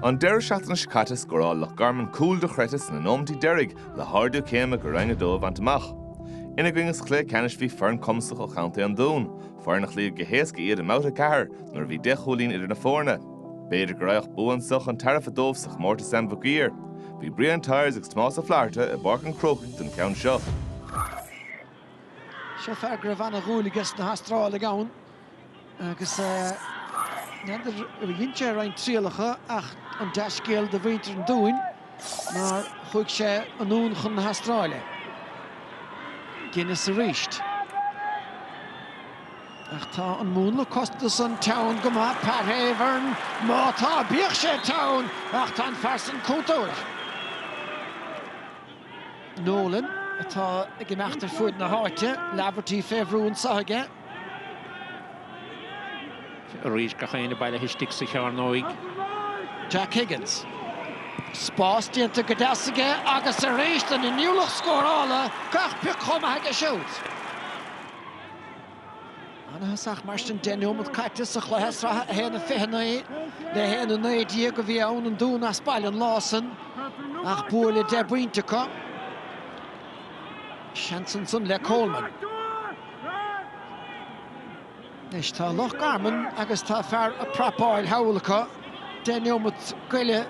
An deireadh seachtaine seo caite scóráil Loch Garman cúl dochreidte sna nóimintí deiridh le hardú céime go Roinn 2 a bhaint amach. Ina gcoinne sa chluiche ceannais bhí foireann cumasach ó Chontae an Dúin, foireann a chloígh go héasca iad i mbabhta 4 nuair a bhí 10 chúilín idir na foirne. B'fhéidir go raghadh bua anseo chun tairbhe dóibh sa chomórtas Sam Mhic Uidhir. Bhí Brian Tyers agus Tomás Ó Flatharta i bPáirc an Chrócaigh don cheann seo. Seo fear go raibh ana-dhúil aige sna hAstrálaigh ann. Agus n'fheadar ar dhein sé roinnt trialacha ach an dea-scéal do mhuintir an Dúin nár chuaigh sé anonn chun na hAstráile. Guinness arís. Ach tá an múnla cosanta san teann go maith Pat Havern. Má tá bíodh sé teann ach tá an fear san cúntóir. Nolan atá ag imeacht ar fuaid na háite, Laverty fé bhrú anseo aige. arís gach éinne bailithe istigh sa chearnóig. Jack Higgins. Spás déanta go deas aige agus arís an inniúlacht scórála, gach pioc chomh maith aige siúd. Ana-thosach mar sin, deich nóimead caite sa chluiche sraithe 1-29 le 1-19 a bhí ann an Dún as baile an lá san ach bua le deich bpointe acu. Seans ansan le Coleman. Anois tá Loch Garman agus tá fear ag prapáil thall acu. Deich neomat go leith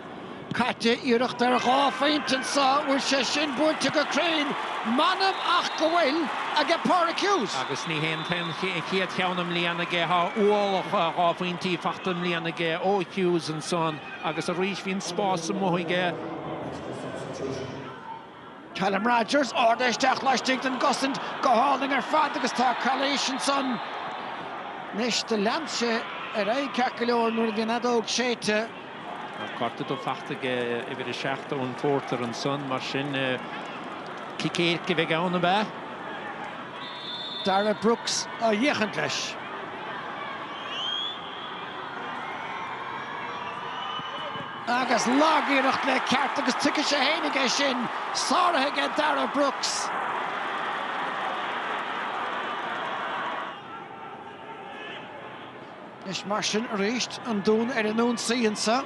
caite, iarracht ar dhá phointe anseo, bhfuil sé sin buailte go cruinn? M'anam ach go bhfuil aige Páraic Hughes. Agus ní hin é an chéad cheann i mbliana aige. Tá ualach dhá phointí faighte i mbliana aige ó Hughes ansan agus arís bhí an spás amuigh aige. Callum Rogers, ardaithe isteach laistigh den gcosaint go hálainn ar fad agus tá calaois ansan anois do lean sé ar aghaidh ceart go leor nuair a bhí an fheadóg séidte. Tá cárta dubh faighte ag uimhir 7 Eoin Porter ansan mar sin cic éirice a bheidh ann, ab ea? Darragh Brooks á fhéachaint leis. Agus lag-iarracht le ceart, agus tuigfidh sé féinig é sin, sáraithe aige Darragh Brooks. Anois mar sin arís, an Dún ar an ionsaí anseo.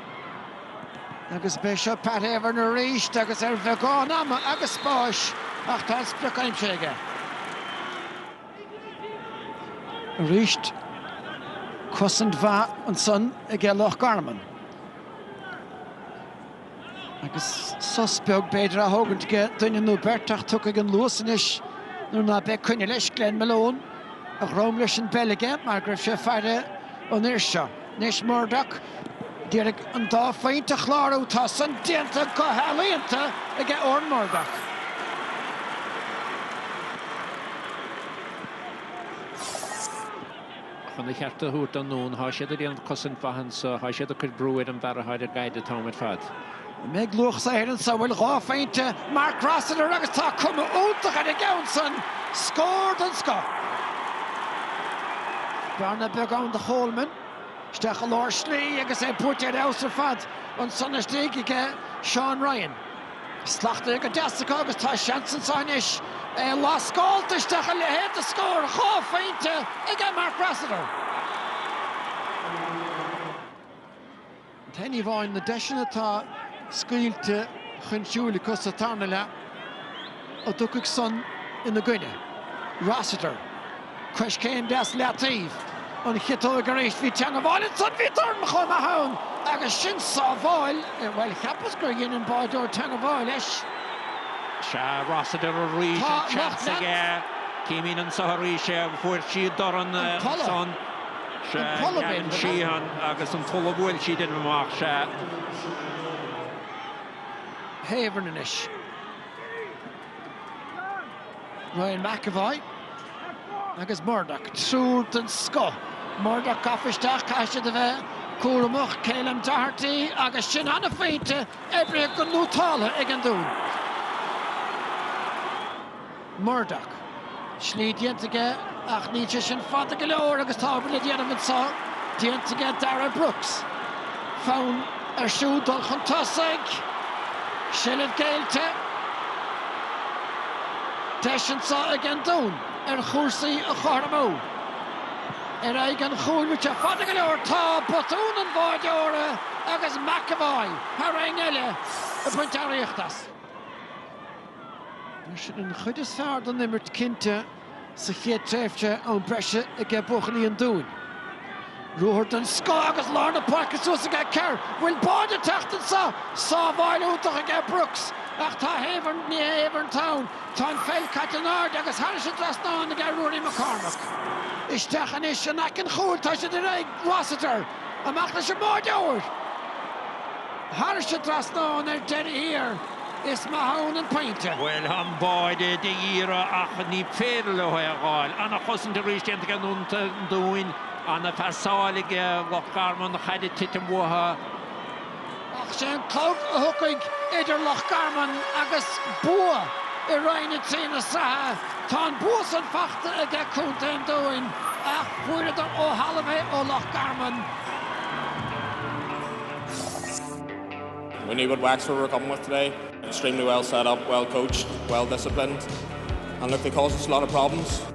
Agus beidh seo Pat Havern arís agus ar bheagán ama agus spáis ach tá an sprioc aimsithe aige. Arís cosaint mhaith ansan aige Loch Garman. Agus sos beag b'fhéidir á thógaint aige duine nó beirt ach tiocfaidh an luas anois nuair ná beidh coinne leis, Glen Malone a dhrom leis an bpeil aige mar go raibh sé ag faire an fhir seo. Anois Murdoch, d'iarraidh an dá phointe a chlárú, tá san déanta go healaíonta aige Odhran Murdoch. Chun a cheart a thabhairt don nDún, tá siad ag déanamh cosaint mhaith anso, tá siad ag cur brú ar an bhfear atá ar an gcaid an t-am ar fad. An mbeidh luach saothair anso, an bhfuil dhá-phointe Mark Rossiter agus tá cuma iontach ar an gceann san, scór den scoth. Bearna beag ann do Choleman. Isteach i lár slí agus é beirthe ar fheabhas ar fad ansan istigh aige Seán Ryan. Slachtmhar go deas acu agus tá seans ansan anois é a lascáilt isteach a leithéad de scór dhá-phointe aige Mark Rossiter. An t-aon ní amháin na deiseanna atá scaoilte chun siúil acu sa tarna leath an dtiocfaidh san ina gcoinne. Rossiter, coiscéim deas leataobh an chiotóg arís. Bhí teangabháil ansan, bhí dorn chomh maith ann agus sin sábháil, bhuel, cheapas gur dhein an báideoir teangabháil leis. Sea, Rossiter arís, an seans aige. Címid anso arís é, fuair siad dorn ansan. Sea, Gavin Sheehan agus an t-ollamh a bhfuil sí déanamh amach, sea. Havern anois. Ryan McEvoy agus Murdoch, triúr den scoth. Murdoch gafa isteach, caithfidh siad a bheith cúramach. Ceilum Doherty agus sin an-phointe oibrithe go nótálta ag an Dún. Murdoch. Slí déanta aige ach níl sé sin fada go leor agus tá obair le déanamh anso, déanta aige Darragh Brooks. Fonn air siúd dul chun tosaigh seilbh caillte. Deis anso ag an Dún ar chúrsaí a chothromú. Ar aghaidh an chúil rite fada go leor tá botún an bháideora agus McEvoy thar éinne eile ag baint earraíocht as. Bhí an chuid is fearr den imirt cinnte sa chéad tréimhse, am breise aige buachaillí an Dúin. Ruathar den scoth agus lár na páirce suas aige Kerr. Bhfuil báide ag teacht anseo? Sábháil iontach aige Brooks ach tá Havern, ní Havern atá ann. Tá an pheil caite in airde agus thairis an dtrasnán aige Ruairí McCormack. Isteach anois in aice an chúil, tá sé ar deireadh aige Rossiter. Amach leis an mbáideoir! Thairis an dtrasnán ar deireadh thiar, is maith ann an pointe. Bhuel, an báide d'iarraidh ach ní féidir leo é a dh'fháil. Ana-chosaint arís déanta ag Contae an Dúin. Ana-pheasáil ag Loch Garman. Chaid ag titim uathu. Ach sé an clog a tháinig idir Loch Garman agus bua i Roinn 3 na sraithe. Tá an bua san fachta aige Contae an Dúin ach fuaireadar ó thalamh é ó Loch Garman. We knew what Wexford were coming with today, extremely well set up, well coached, well disciplined and look they caused us a lot of problems.